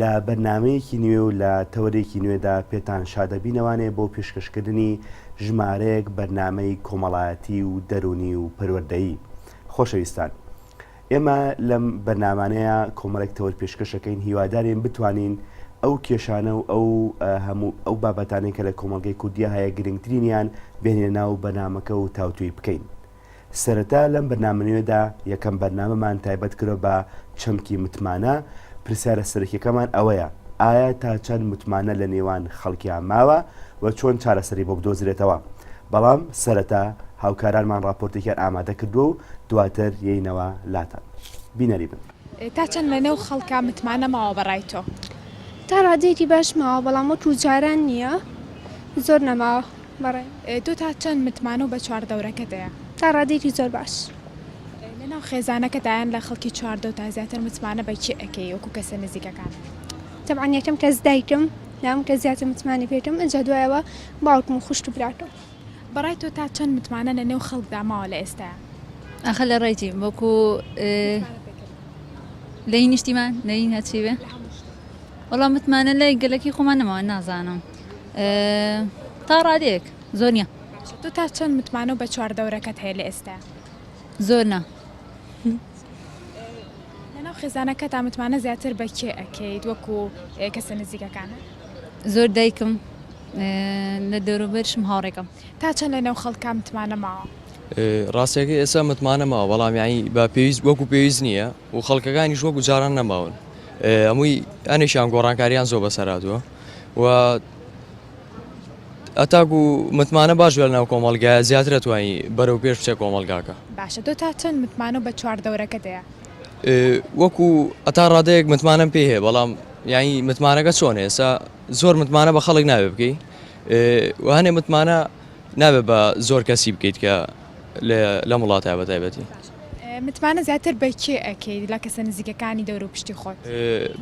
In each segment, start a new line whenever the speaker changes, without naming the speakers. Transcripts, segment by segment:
لە بەرنامەیەکی نوێ و لە تەوەرێکی نوێدا پێتان شادەبینەوانێ بۆ پێشکەشکردنی ژمارەیەک بەرنامەی کۆمەڵایەتی و دەروونی و پەروەردەیی. خۆشەویستان ئێمە لەم بەرنامانەیا کۆمەڵێک تەوەر پێشکەشەکەین هیوادارین بتوانین ئەو کێشانە و ئەو هەموو ئەو بابەتانەی کە لە کۆمەڵگەی کوردیا هەیە گرنگترینیان بێنینە ناو بەرنامەکە و تاوتوێی بکەین. سەرەتا لەم بەرنامە نوێدا یەکەم بەرنامەمان تایبەت کردوە بە چەمکی متمانە، پرسیارە سەرەکیەکەمان ئەوەیە ئایا تا چەند متمانە لە نێوان خەڵکیا ماوە و چۆن چارەسەری بۆ بدۆزرێتەوە؟ بەڵام سەرەتا هاوکارانمان ڕاپۆرتێکیان ئامادە کردوە و دواتر یەینەوە لاتان. بینەری بن. تا چەند لە نێو
خەڵکا متمانە ماوە بە ڕای تۆ؟ تا ڕادەیەکی
باش ماوە بەڵام وەکو جاران نیە زۆر نەماوە. بەڕێ تۆ تا چەند
متمانە و بە چواردەورەکەت هەیە؟ تا ڕادەیەکی
زۆر باش. لە ناو
خێزانەکەتا یان لە خەڵکی چواردەورتا زیاتر متمانە بە کێ ئەکەی وەکو کەسە نزیکەکانت؟ تەبعەن یەکەم
کەس دایکم لام کە زیاتر متمانەی پێ ئەکەم ئینجا دوایەوە باوکم و خوشک و براکەم. بەڕای تۆ تا
چەند متمانە لە نێو خەڵکدا ماوە لە ئێستایا؟ ئاخر لە ڕێی
چی وەکو متمانە پێکردن؟ لە هی نیشتیمان؟ لە هی هەرچی بێ؟ لە هەموو شتێک. وەڵا متمانە لای گەلەکەی خۆمان نەماوە نازانم. تا ڕادێک زۆر نیە تۆ تا چەند
متمانە و بە چوار دەورەکەت هەیە لە ئێستا زۆر نا لەناو خێزانەکە تا متمانە زیاتر بە کێ ئەکەیت وەکو کەسە نزیکەکانە زۆر
دایکم لە دەوروبەرشم هاوڕێکم تا چەند لە ناو
خەڵکە متمانە ماوە ڕاستەکە
ئێستا متمانە ماوە بەڵامیانی بە پێویست وەکو پێویست نییە و خەڵکەکانیش وەکو جاران نەماون هەمووی ئەنێکیان گۆڕانکاریان زۆر بەسەراتوە و ئەتاکو متمانە باش لە ناو کۆمەلگای زیاترە توانی بەرەو پێش بچێ کۆمەلگاکە باشە تۆ تا چەند
متمانە بە چوار دەورەکە دەیە؟ وەکو
ئەتا ڕادەیەک متمانەم پێ هەیە بەڵام یانی متمانەکە چۆن ئێسا زۆر متمانە بە خەڵک ناوێ بکەی وانێ متمانە نابێت بە زۆر کەسی بکەیت کە لە وڵاتە بە تایبەتی. متمانە
زیاتر بە کێ ئەکەیت لە کەسە نزیکەکانی دەوروپشتی خۆت؟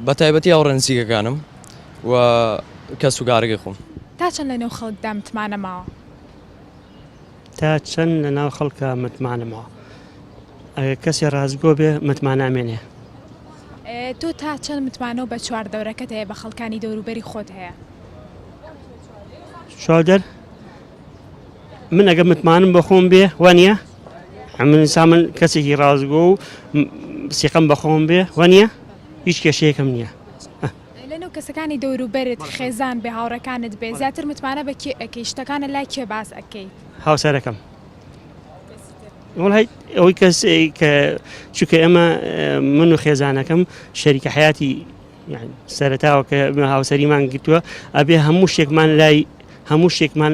بە تایبەتی
هاوڕێ نزیکەکانم و کەس و کارەکەی خۆم. تا چەند لەنێو
خەڵکدا متمانە ماوە؟
تا چەند لەناو خەڵکا متمانە ماوە؟ ئەگەر کەسێ ڕاستگۆ بێ متمانە ئەمێنێ.
تۆ تا چەند متمانە و بە چواردەورەکەت هەیە بە خەڵکانی دەوروبەری خۆت هەیە؟
چواردەر من ئەگەر متمانەم بە خۆم بێ وا نییە؟ من ئینسان من کەسێکی ڕاستگۆ و سیقەم بە خۆم بێ وە نییە هیچ کێشەیەکم نییە لە نێو
کەسەکانی دەوروبەرت خێزان بێ هاوڕەکانت بێ زیاتر متمانە بە کێ ئەەکەی شتەکانە لای کێ باس ئەەکەیت هاوسەرەکەم
وڵی ئەوەی کەس کە چونکە ئەمە من و خێزانەکەم شەریکە حیاتی سەرتاوە کە هاوسەریمان گرتووە ئەبێ هەموو شتێکمان لای هەموو شتێکمان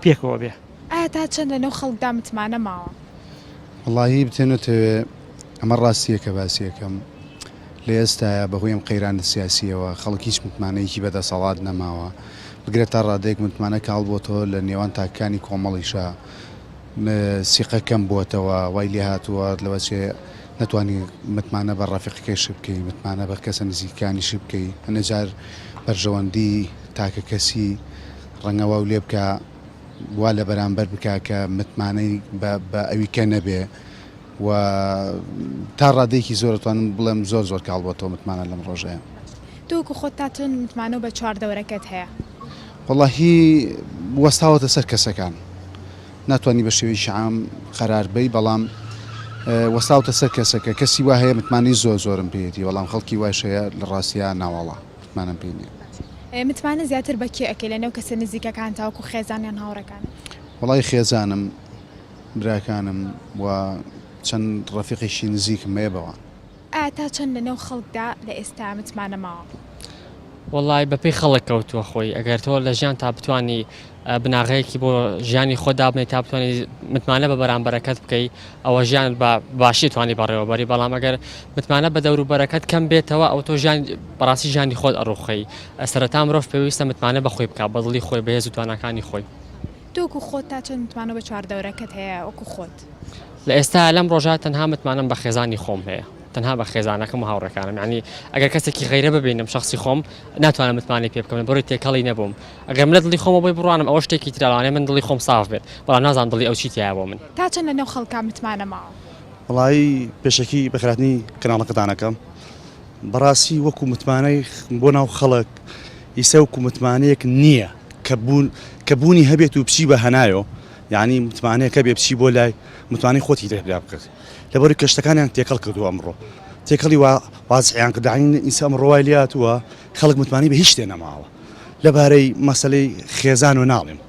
پێکەوە بێ ئایا تا چەند لەنێو
خەڵکدا متمانە ماوە؟ وەڵاهی
بتە نەتەوێ ئەمە ڕاستییە کە باسی ئەکەم. لە ئێستایا بە هۆی ئەم قەیرانە سیاسییەوە خەڵک هیچ متمانەیەکی بە دەسەڵات نەماوە. بگرە تا ڕادەیەک متمانە کاڵ بۆتەوە لە نێوان تاکەکانی کۆمەڵیشا سیقە کەم بۆتەوە. وای لێ هاتووە لەوە چێ نەتوانی متمانە بە ڕەفیقەکەیشت بکەی، متمانە بە کەسە نزیکەکانیشت بکەی. هەندێ جار بەرژەوەندیی تاکەکەسی ڕەنگە واو لێ بکا وا لە بەرامبەر بکا کە متمانەی بە ئەویکە نەبێ و تا ڕادەیەکی زۆر ئەتوانم بڵێم زۆر زۆر کاڵ بۆتەوە متمانە لەم ڕۆژەیە. تۆ وەکو خۆت تا
چەند متمانە بە چواردەورەکەت هەیە؟ وەڵاهی
وەستاوەتە سەر کەسەکان ناتوانی بە شێوەیەکی عام قەرار بەی بەڵام وەستاوتە سەر کەسەکە کەسی وا هەیە متمانەی زۆر زۆرم پێیەتی بەڵام خەڵکی وایش هەیە لە ڕاستیا ناوەڵا. مانام پێ نیە. باشە متمانە زیاتر
بە کێ ئەکەی لە نێو کەسە نزیکەکانتا وەکو خێزان یان هاوڕێکانت؟ وەڵای خێزانم
براکانم و چەند ڕەفیقیشی نزیکم هەیە بەوان. ئایا تا چەند
لە نێو خەڵکدا لە ئێستا متمانە ماوە؟ وەڵای
بەپێی خەڵک کەوتووە خۆی ئەگەر تۆ لە ژیانتا بتوانی بناغەیەکی بۆ ژیانی خۆت دابنێی تا بتوانێت متمانە بە بەرامبەرەکەت بکەی ئەوە ژیان بە باشی توانی بەڕێوەبەری بەڵام ئەگەر متمانە بە دەوروبەرەکەت کەم بێتەوە ئەو تۆ ژیان بەڕاستی ژیانی خۆت ئەڕوخەی ئەسەرەتا مرۆڤ پێویستە متمانە بەخۆی بکە بەدڵی خۆی بەهێز و تواناکانی خۆی تۆکو خۆت
تا چەند متمانە بە چواردەورەکەت هەیە وەکو خۆت لە ئێستا
لەم ڕۆژە تەنها متمانەم بە خێزانی خۆم هەیە تەنها بە خێزانەکەم و هاوڕەکانم ینی ئەگەر کەسێکی غیرە ببینم شخصی خۆم ناتوانم متمانەی پێ بکەم بڕی تێکەڵی نەبووم ئەگەر من لە دڵی خۆمەوە بۆی بڕوانم ئەوە شتێکی ترە، لەوانەیە من دڵی خۆم ساف بێت، بەڵام نازانم دڵی ئەو چی
تیایە
بۆ من.
تا
چەند لەنێو
خەڵکا
متمانە ماوە؟ وەڵایی
پێشەکی بە خراپتنی کەناڵەکەتان ئەکەم بەڕاستی وەکو متمانەی بۆ ناو خەڵک ئیسە وەکو متمانەیەک نییە کە بوون کە بوونی هەبێت و بچی بە هەنایۆ یعنی متمانەیەکە بێ بچی بۆ لای متمانەی خۆتی دەر پیا بکەت لەبەرو کە شتەکانیان تێکەڵ کردووە ئەمڕۆ تێکەڵی وا وازحیان کردعین ئیسە ئەمڕۆ وای لێ هاتووە خەڵک متمانەی بە هیچ شتێ نەماوە لەبارەی مەسەلەی خێزان و ناڵێم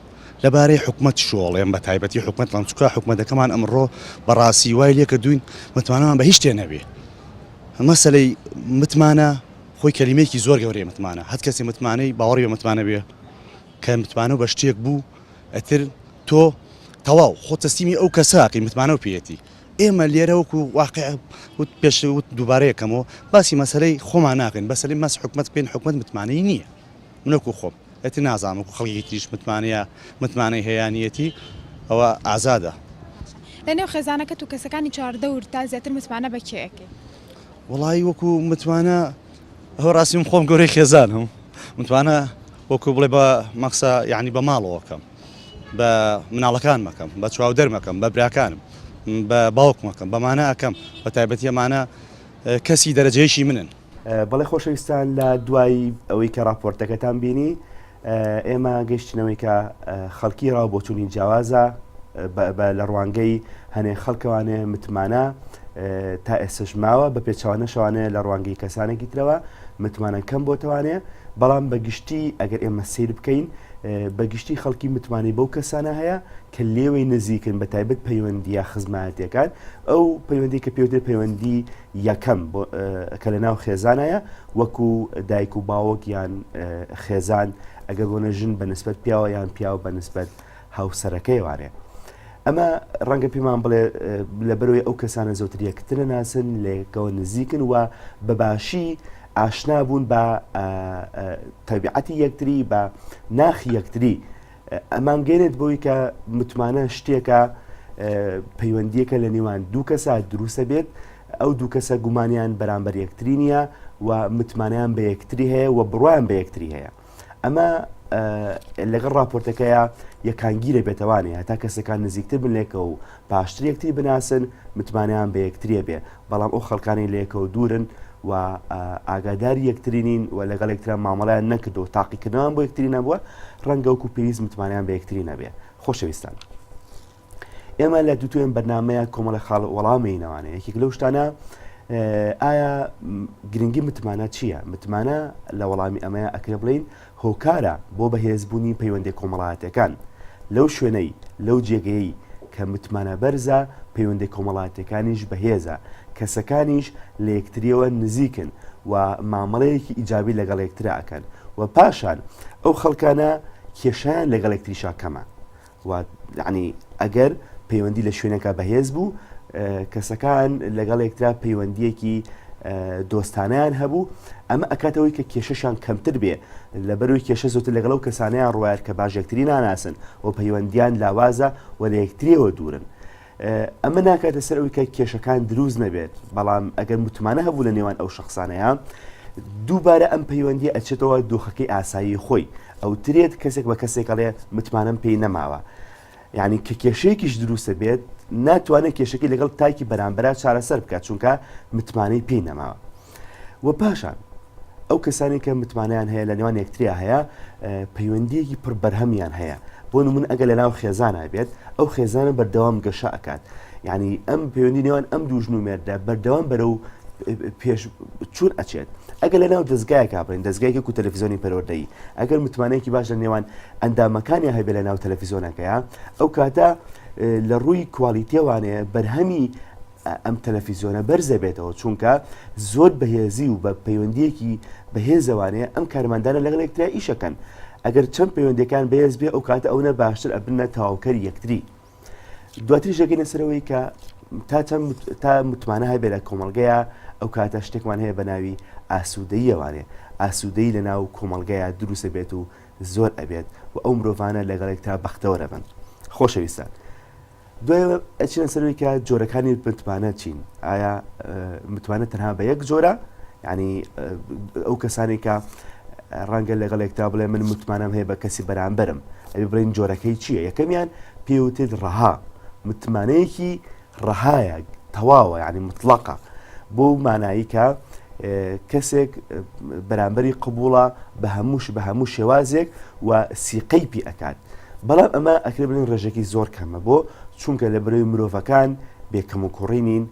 لەبارەی حکومەت شۆڵێم بە تایبەتی حکومەت ڵام چکا حکومەتەکەمان ئەمڕۆ بەڕاستی وای لێکە دوین متمانەمان بە هیچ شتێ نەبێ مەسەلەی متمانە خۆی کەلیمێکی زۆر گەورەی متمانە هەت کەسی متمانەی باوەڕی بە متمانە بێ کە متمانە و بە شتێک بوو ئەتر تۆ تەواو خۆ تەسلیمی ئەو کەساکەی متمانە و پێەتی ئێمە لێرە وەکو واقیع وت پێش وت دووبارە یەکەمەوە باسی مەسەلەی خۆمان ناکەین بەسەری مەس حکومت بکەین حکومت متمانەی نییە من وەکو خۆم ئەتی نازانم وەکو خەڵکی تریش متمانەیە متمانەی هەیانیەتی ئەوە ئازادە لە نێو
خێزانەکەت و کەسەکانی چواردەور تا زیاتر متمانە بە کێ ئەکەی؟ وڵی
وەکو متمانە هەو ڕاستیم خۆم گەورەی خێزانم متمانە وەکو بڵێ بە مەخسە یعنی بە ماڵەوەکەم بە مناڵەکان مەکەم بە چواودەر مەکەم بە براکانم بە باوک مەکەم بەمانە ئەکەم بە تایبەتی ئەمانە کەسی دەرەجەیەکی منن بەڵێ خۆشەویستان
لە دوایی ئەوەی کە راپۆرتەکەتان بینی ئێمە گەشتنەوەی کە خەڵکی ڕاو بۆچوونی جیاوازە لە ڕوانگەی هەنێ خەڵکەوانێ متمانە تا ئێسش ماوە بە پێچوانە شوانەیە لە ڕوانگەی کەسانێکی ترەوە متمانە کەم بۆتوانێ بەڵام بە گشتی ئەگەر ئێمە سیر بکەین بە گشتی خەڵکی متمانەی بەو کەسانە هەیە کە لێوەی نزیکن بە تایبەت پەیوەندیە خزمایەتەکان ئەو پەیوەندی کە پێوتێ پەیوەندی یەکەم کە لە ناو خێزانایە وەکو دایک و باوەک یان خێزان ئەگەر بۆ نەژن بە نسبەت پیاوە یان پیاوە بە نسبەت هاوسەرەکەی وانێ ئەمە ڕەنگە پێمان بڵێ لە بەرەوەی ئەو کەسانە زۆتر یەکترە ناسن لەکەوە نزیکن و بەباشی ئاشنا بوون بە تەبیعەتی یەکتری بە ناخی یەکتری ئەمان گەێنێت بۆی کە متمانە شتێکە پەیوەندیەکە لە نێوان دوو کەسە دروستە بێت ئەو دوو کەسە گومانیان بەرامبەر یەکتری نییە و متمانیان بە یەکتری هەیە و بڕوان بە یەکتری هەیە. ئەمە لەگەڵ راپۆرتەکەیە یەکانگیرە بێتوانێ هەتا کەسەکان نزیکتر بلێکەوە و پاشتر یەکتری بناسن متمانیان بە یەکتریە بێ بەڵام ئەو خەڵکانی لەکەەوە دوورن و ئاگادار یەکترینین و لەگەڵ یەکتران مامەڵیان نەکرد و تاقیکردنەوەیان بۆ یەکتری نەبووە ڕەنگەوکو پێویست متمانیان بە یەکتری نەبێ خۆشەویستان. ئێمە لە دوتوێن بەرنمەیە کۆمەڵە خاڵ وەڵامینەوانە یەکێک لەو شتانە ئایا گرنگی متمانە چییە متمانە لە وەڵامی ئەمەیە ئەکرێ بڵین هۆکارە بۆ بەهێزبوونی پەیوەندی کۆمەڵاتەکان لەو شوێنەی لەو جێگەی کە متمانە بەرزە پەیوەندی کۆمەڵاتەکانیش بەهێزە کەسەکانیش لە یەکتریەوە نزیکن و مامەڵەیەکی ئیجابی لەگەڵ یەکتراکەن و پاشان ئەو خەڵکانە کێشیان لەگەڵ یەکتریشا کەمە وات یەعنی ئەگەر پەیوەندی لە شوێنێکا بەهێز بوو کەسەکان لەگەڵ یەکترا پەیوەندیەکی دۆستانیان هەبوو ئەمە ئەکاتەوەی کە کێشەشان کەمتر بێ لە بەروی کێشە زۆتر لەگەڵ و کەسانیان ڕواەر کە باژێکتری ناناسن و پەیوەندیان لاوازە و لە یەکتریەوە دوورن ئەمە ناکاتە سەر ئەوی کە کێشەکان دروست نەبێت بەڵام ئەگەر متمانە هەبوو لە نێوان ئەو شخصانەیە دووبارە ئەم پەیوەندی ئەچێتەوە دۆخەکەی ئاسایی خۆی ئەو ترێت کەسێک بە کەسێکەڵێ متمانم پێی نەماوە یعنی کە کێشەیەکیش دروستە بێت ناتوانێت کێشەکەی لەگەڵ تاکی بەرامبرا چارەسەر بکات چونکە متمانەی پێی نەماوە وە پاشان ئەو کەسانی کە متمانیان هەیە لە نێوان یەکتریا هەیە پەیوەندیەکی پڕ بەرهەمیان هەیە بۆ نمون ئەگە لە ناو خێزانە بێت ئەو خێزانە بەردەوام گەشە ئەکات یعنی ئەم پەیوەندی نێوان ئەم دوو ژن و مێردە بەردەوام بەرە و پێش چون ئەچێت ئەگە لە ناو دەستگایەکە بن دەستگایکە و تەلەفزیۆنی پەروەدەی ئەگەر متمانەیەکی باش لە نێوان ئەندامەکانی هەبێ لە ناو تەلەفیزۆنەکەیە ئەو کاتە لە ڕووی کوالیتێوانەیە بەرهەمی ئەم تەلەفیزیۆنە بەرزە بێتەوە چونکە زۆر بەهێزی و بە پەیوەندیەکی بەهێزەوانەیە ئەم کارماندانە لەگەڵ یەکتریا ئیشەکەن ئەگەر چەند پەیوەندەکان بەهێز بێ ئەو کاتە ئەوە باشتر ئەبنە تەواوکەری یەکتری دواتری ژەگەنە سەرەوەی کە تا چەند تا متمانە هەبێ لە کۆمەلگەیە ئەو کاتە شتێکمان هەیە بە ناوی ئاسوودەیەوانێ ئاسوودەی لە ناو کۆمەلگەیە دروسە بێت و زۆر ئەبێت و ئەو مرۆڤانە لەگەڵێک تا بەختەوەرە بن خۆشەویستان. دوای ئەچنە سەروی کە جۆرەکانی متمانە چین ئایا متمانە تەنها بە یەک جۆرە ینی ئەو کەسانی کە ڕەنگە لەگەڵێکتا بڵێ من متمانەم هەیە بە کەسی بەرامبرم ئەبی بڵین جۆرەکەی چییە یەکەمیان پێوتێت ڕەها متمانەیەکی ڕەهایە تەواوە ینی مطلقە بۆ مانایی کە کەسێک بەرامبەری قبووڵە بە هەمووش بە هەموو شێوازێک و سیقەی پی ئەکات بەڵام ئەمە ئەکرێ بڵێن ڕێژەکی زۆر کەمە بۆ چونکە لە برەوی مرۆڤەکان بێکەم و کوڕی نین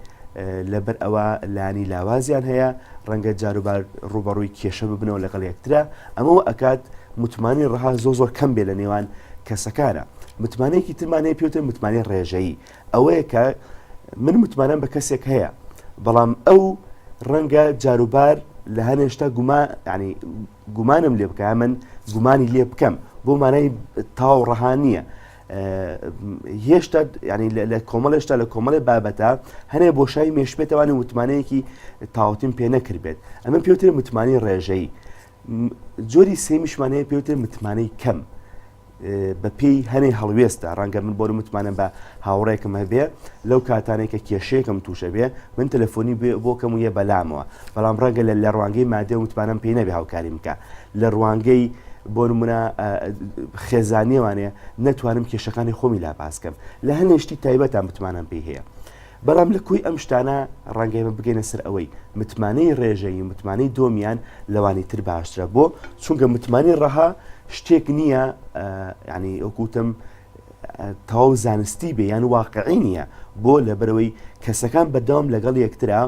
لەبەر ئەوە لانی لاوازیان هەیە ڕەنگە جاروبار ڕوبەڕووی کێشە ببنەوە لەگەڵ یەکترا ئەمەوە ئەکات متمانی ڕەها زۆ زۆر کەم بێ لە نێوان کەسەکانە متمانەیەکی ترمانەیە پێوتە متمانی ڕێژەیی ئەوەیە کە من متمانەم بە کەسێک هەیە بەڵام ئەو ڕەنگە جاروبار لە هەنێشتا گوما ینی گومانم لێ بکە من گومانی لێ بکەم بۆ مانای تاو ڕەها نییە. هێشتا ینی لە کۆمەڵ هێشتا لە کۆمەڵی بابەتە هەنێ بۆشای مێشبێتەوانی وتمانەیەکی تاوتین پێ نەکردبێت ئەمە پێوتر متمانی ڕێژەی جۆری سێمیشمانەیە پێوتر متمانەی کەم بە پێی هەنێ هەڵوێستە ڕەنگە من بۆر متمانە بە هاوڕێکم هەبێ لەو کاتانێک کە کێشەیەکم تووشە بێ من تەلەفۆنی بۆ کەم و یە بەلامەوە بەڵام ڕەنگە لە لە ڕوانگەی مادێ و متمانم پێی نەبێ هاوکاری بکە لە ڕوانگەی بۆ نمونە خێزانیوانێ نەتوانم کێشەکانی خۆمی لا باسکەم لە هەنێشتی تایبەتان بتمانم پێی هەیە. بەڵام لە کۆی ئەم شتانە ڕەنگە ئێمە بگەینە سەر ئەوەی متمانەی ڕێژەیی و متمانەی دۆمیان لەوانی تر باشترە بۆ چونکە متمانی ڕەها شتێک نییە ینی ئەوکوتم تەواو زانستی بێ یان واقعی نییە بۆ لە بەرەوەی کەسەکان بەدەوام لەگەڵ یەکترا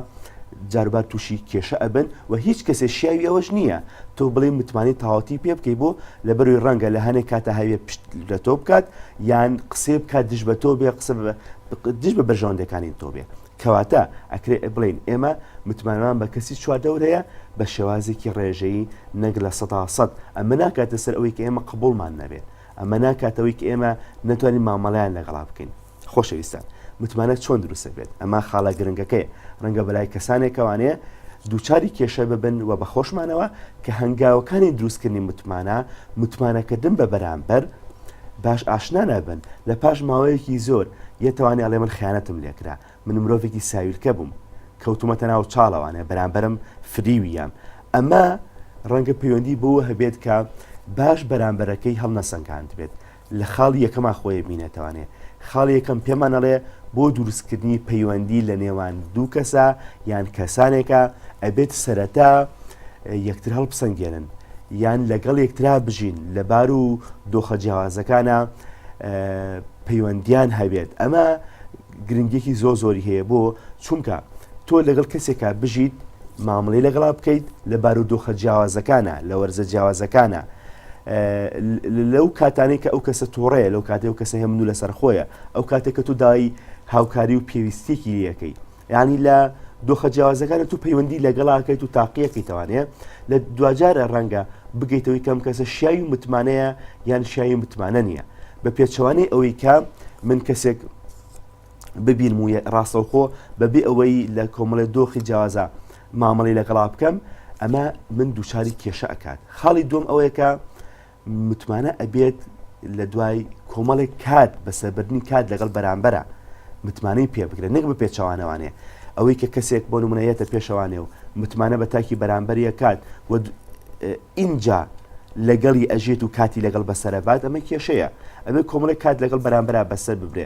جاربار تووشی کێشە ئەبن و هیچ کەسێ شیاوی ئەوەش نییە تۆ بڵێ متمانی تاواتی پێ بکەی بۆ لە بەروی ڕەنگە لە هەنێک کاتە هەوێ پشت لە تۆ بکات یان قسێ بکات دژ بە تۆ بێ قسە دژ بە بەرژەوەندەکانی تۆ بێ کەواتە ئەکرێ بڵین ئێمە متمانەمان بە کەسی چواردەور هەیە بە شێوازێکی ڕێژەیی نەک لە سەدا سەد ئەمە ناکاتە سەر ئەوەی کە ئێمە قبولمان نەبێت ئەمە ناکاتەوەی کە ئێمە نەتوانین مامەڵیان لەگەڵا بکەین خۆشەویستان متمانە چۆن دروستە بێت ئەمە خاڵە گرنگەکەی ڕەنگە بەلای کەسانێکەوانەیە دووچاری کێشە ببن و بەخۆشمانەوە کە هەنگاوەکانی دروستکردنی متمانە متمانەکردن بە بەرامبەر باش ئاشنا نەبن لە پاش ماوەیەکی زۆر یەتوانی ئەڵێ من خیانەتم لێکرا من مرۆڤێکی ساویلکە بووم کەوتومەتە ناو چاڵەوانێ بەرامبەرم فریویام ئەمە ڕەنگە پەیوەندی بەوە هەبێت کە باش بەرامبەرەکەی هەڵنەسەنگاندبێت لە خاڵی یەکەما خۆی بینێتوانێ خاڵی یەکەم پێمان ئەڵێ بۆ دروستکردنی پەیوەندی لە نێوان دوو کەسە یان کەسانێکە ئەبێت سەرەتا یەکتر هەڵبسەنگێنن یان لەگەڵ یەکترا بژین لە بار و دۆخە جیاوازەکانە پەیوەندیان هەبێت ئەمە گرنگێکی زۆ زۆری هەیە بۆ چونکە تۆ لەگەڵ کەسێکە بژیت مامەڵی لەگەڵا بکەیت لە بار و دۆخە جیاوازەکانە لە وەرزە جیاوازەکانە لەو کاتانەی کە ئەو کەسە تۆڕەیە لەو کاتێک کەسە هەمن و لەسەر خۆیە ئەو کاتێک کە تو دای هاوکاری و پێویستێکی لەکەی یعنی لە دۆخە جیاوازەکانە تو پەیوەندی لەگەڵاکەیت و تاقیەکەیتوانێ لە دوجارە ڕەنگە بگەیتەوەی کەم کەسە شیاوی متمانەیە یان شیاوی متمانە نییە بە پێچوانەی ئەوەی کە من کەسێک ببین و ڕاستەوخۆ بەبێ ئەوەی لە کۆمەڵێ دۆخی جیاوازە مامەڵی لەگەڵا بکەم ئەمە من دووچاری کێشە ئەکات خاڵی دوم ئەوەیەکە متمانە ئەبێت لە دوای کۆمەڵێک کات بە سەربردنی کات لەگەڵ بەرامبەرە متمانەی پێ بکرێت نەک بە پێچوانەوانێ ئەوەی کە کەسێک بۆ نمونەیەتە پێشەوانێ و متمانە بە تاکی بەرامبەریە کات و ئینجا لەگەڵی ئەژێت و کاتی لەگەڵ بەسەرەبات ئەمە کێشەیە ئەبێ کۆمەڵێک کات لەگەڵ بەرامبرا بەسەر ببرێ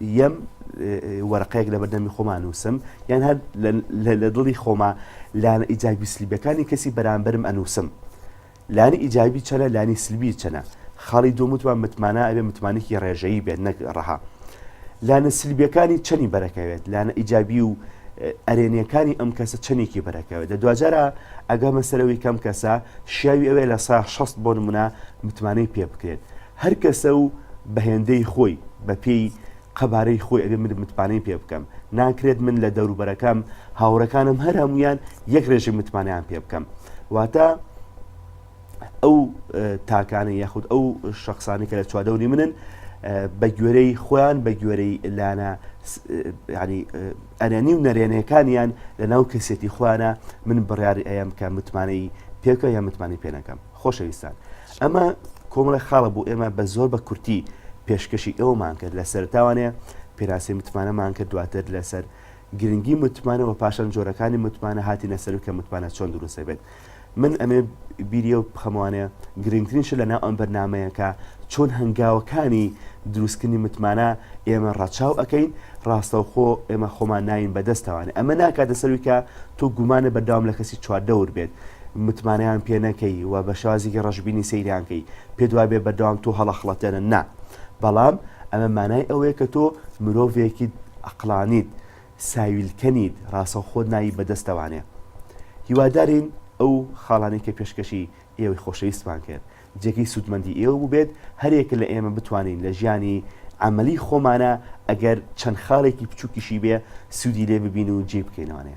یەم وەرەقەیەک لە بەردەمی خۆمان نووسم یان هەر لە دڵی خۆما لانە ئیجابی سلیبەکانی کەسی بەرامبرم ئەنووسم لانی ئیجابی چەنە لانی سلبی چەنە خاڵی دومتوان متمانە ئەبێ متمانێکی ڕێژەیی بێت نەک ڕەها لانە سلبیەکانی چەنی بەرەکەوێت لانە ئیجابی و ئەرێنیەکانی ئەم کەسە چەندێکی بەرەکەوێت لە دوجارە ئەگەمە سەرەوەی کەم کەسە شیاوی ئەوێ لە سا 16 بۆ نمونە متمانەی پێ بکرێت هەر کەسە و بە هێندەی خۆی، بە پێی قەبارەی خۆی ئەبێ من متمانەی پێ بکەم. ناکرێت من لە دەوروبەرەکەم، هاوڕێکانم هەر هەموویان یەک ڕێژەی متمانەیان پێ بکەم. واتە ئەو تاکانە یاخود ئەو شخصانی کە لە چواردەوری منن بە گوێرەی خۆیان بە گوێرەی لانە ینی ئەرێنی و نەرێنەکانیان لە ناو کەسێتی خۆیانە من بڕیاری ئەیەم کە متمانەی پێکە یا متمانی پێنەکەم. خۆشەویستان ئەمە کۆمەڵێک خاڵە بۆ ئێمە بە زۆر بە کورتی پێشکەشی ئەومان کرد لە سەرتاوانێ پێراسی متمانەمان کرد دواتر لەسەر گرنگی متمانە و پاشان جۆرەکانی متمانە هاتی نەسەر کە متمانە چۆن دروستە بێت من ئەمێ بیریە و بخەموانەیە گرنگترین شە لە ناو ئەم بەرنمەیەەکە چۆن هەنگاوەکانی دروستکردنی متمانە ئێمە ڕەچاو ئەەکەین ڕاستەوخۆ ئێمە خۆمان ناین بەدەستەوانێ ئەمە ناکاتە سەرویکە تۆ گومانە بەرداوام لە کەسی چواردەور بێت متمانەیان پێ نەکەی و بە شێوازێکی ڕەشبینی سەیریان کەی پێت وابێ بەردەوام تۆ هەڵەخڵەتێنن نا بەڵام ئەمە مانای ئەوەیە کە تۆ مرۆڤێکیت ئەقڵانیت ساویلکە نیت ڕاستەوخۆت ناوی بەدەستەوانێ هیوادارین ئەو خاڵانەی کە پێشکەشی ئێوەی خۆشەویستمان کرد جێگەی سوودمەندی ئێوە بووبێت هەریەکە لە ئێمە بتوانین لە ژیانی عەمەلی خۆمانە ئەگەر چەند خاڵێکی بچووکیشی بێ سوودی لێ ببین و جێی بکەینەوانێ